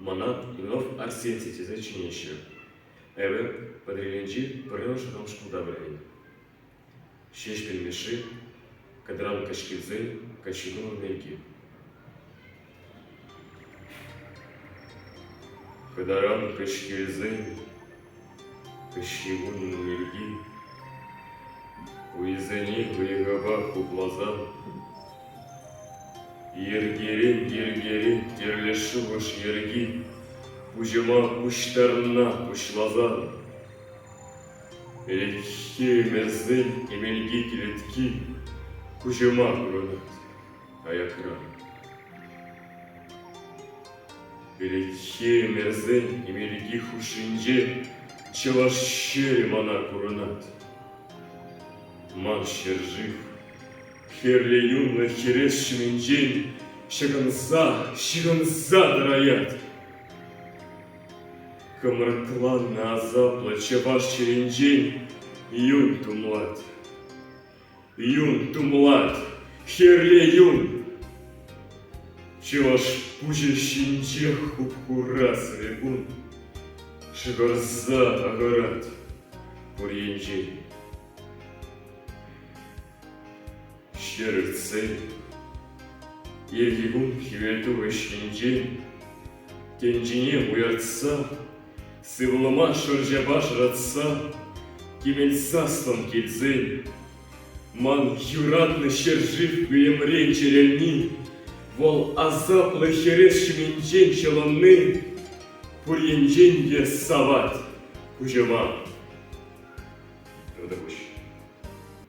Мана Лев Арсентий тесе чӗнеҫҫӗ. Эпӗ Патӑрьелӗнчи пӗрремӗш вӑтам шкулта вӗреннӗ. Ҫеҫпӗл Мишши, кӑдран каҫкисен каччинулӑм пирки. Кӑтаран каҫкисен Кӗҫҫи кунӗн йӗрки хӑйсене вӑйӑпа хупласан йӗркерен-йӗркерен тӗрлӗ шухӑш йӗрки пуҫӑма пуҫтарӑнна пуҫласан ӗлӗкхи ӗмӗрсен эмелти кӗлетки куҫӑма курӑнать. Аятра Перехи мерсен Америки хушшинче Чӑваш ҫӗрӗ мана курӑнать. Ман ҫӗршыв Хӗрлӗ юнлӑ хӗрес ҫумӗнчен Ҫӑкӑнса, ҫыхӑнса тӑраять. Кӑмрӑкланнӑ асаплӑ чӑваш чӗринчен Юн тумлать. Юн тумлать, хӗрлӗ юн. Чӑваш пуҫӗ ҫинчех хуп-хура сӗрекун. Шӑкӑрса тахӑрать пур енчен. Ҫӗр иртсен иртнӗ кун хӗвелтухӑҫ енчен Тӗнчене уяртса, сывлӑма шӑрҫапа шӑратса, кӗмӗл саслӑм килсен, ман юратнӑ ҫӗршыв хӑйӑмрен чӗрелни, вӑл асаплӑ хӗрес ҫумӗнчен ҫӑлӑнни пур енчен те савать куҫӑма. Ну та куҫ.